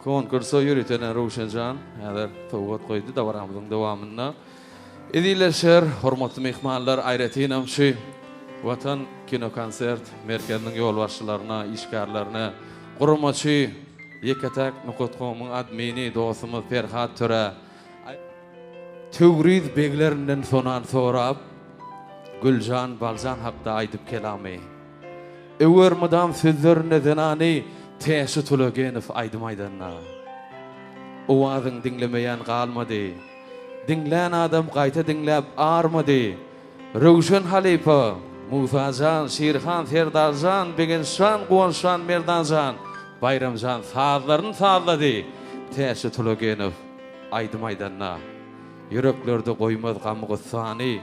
Konkursa ýöritelen Röwşenjan häzir sowgat goýdy. Dabaramyzyň dowamynda Edilleşer. Hormatly myhmanlar, aýratynam şu Watan kinokonsert merkeziniň ýolbaşçylaryna, işgärlerine, guramaçy Ýeke-täk nokatkomyň admini dostumyz Perhat Törä, Töwriz beglerinden sonan sorap, Güljan, Baljan hakda aýdyp kelamy. Öwer mydam sözlerinde zenany Täşi Tulagenow aýdym aýdanda. Owazyň diňlemeýän galmady. Diňlän adam gaýta diňläp armady. Röwşen halypa, Musa jan, Şirhan, Serdar jan, Begenç jan, Guwanç jan, Merdan jan, Baýram jan sazlaryny sazlady. Täşi Tulagenow aýdym aýdanda. Ýüreklerde goýmaz gam-gussany.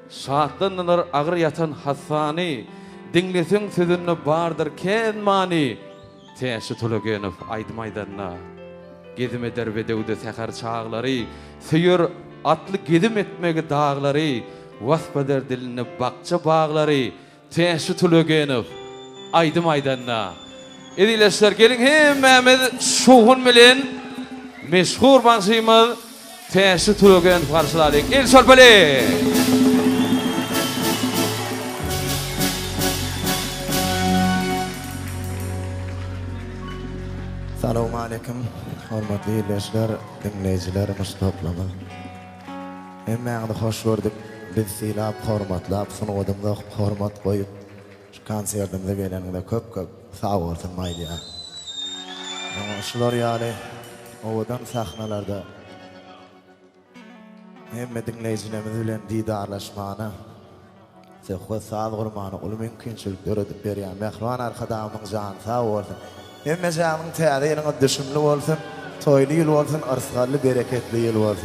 Şatlandylar agyr ýatan hassany, Diňleseň sözünde bardyr kän many. Täşli Tolagenow aýdym aýdanda, Gezim eder bedewde säher çaglary, Söýer atly gezim etmegi daglary, Wasp eder dilinde bakja-baglary, Täşli Tulegenow aýdym aýdanda. Ezileşler geliň hemmämiz şowhun bilen meşhur bagşymyz Täşli Tulegenowy garşylalyň. El çarpalyň. Salowmaleýkim. Hormatly ildeşler, diňleýjilerimiz toplamy. Hemmäňizi hoş gördük. Bizi sylap, hormatlap, sungatymyza hormat goýup, şu konsertimize geleniňize köp-köp sag bolsun Maýlýa. Ýöne şular ýaly owadan sahnalarda hemme diňleýjilerimiz bilen didarlaşmana, söhbet-saz gurmana uly mümkinçilik döredip berýän mähriban Arkadagymyzyň jany sag bolsun. Hemmejaňyzyň Täze ýylyňyz düşümli bolsun, toýly ýyl bolsun, yrsgally, bereketli ýyl bolsun.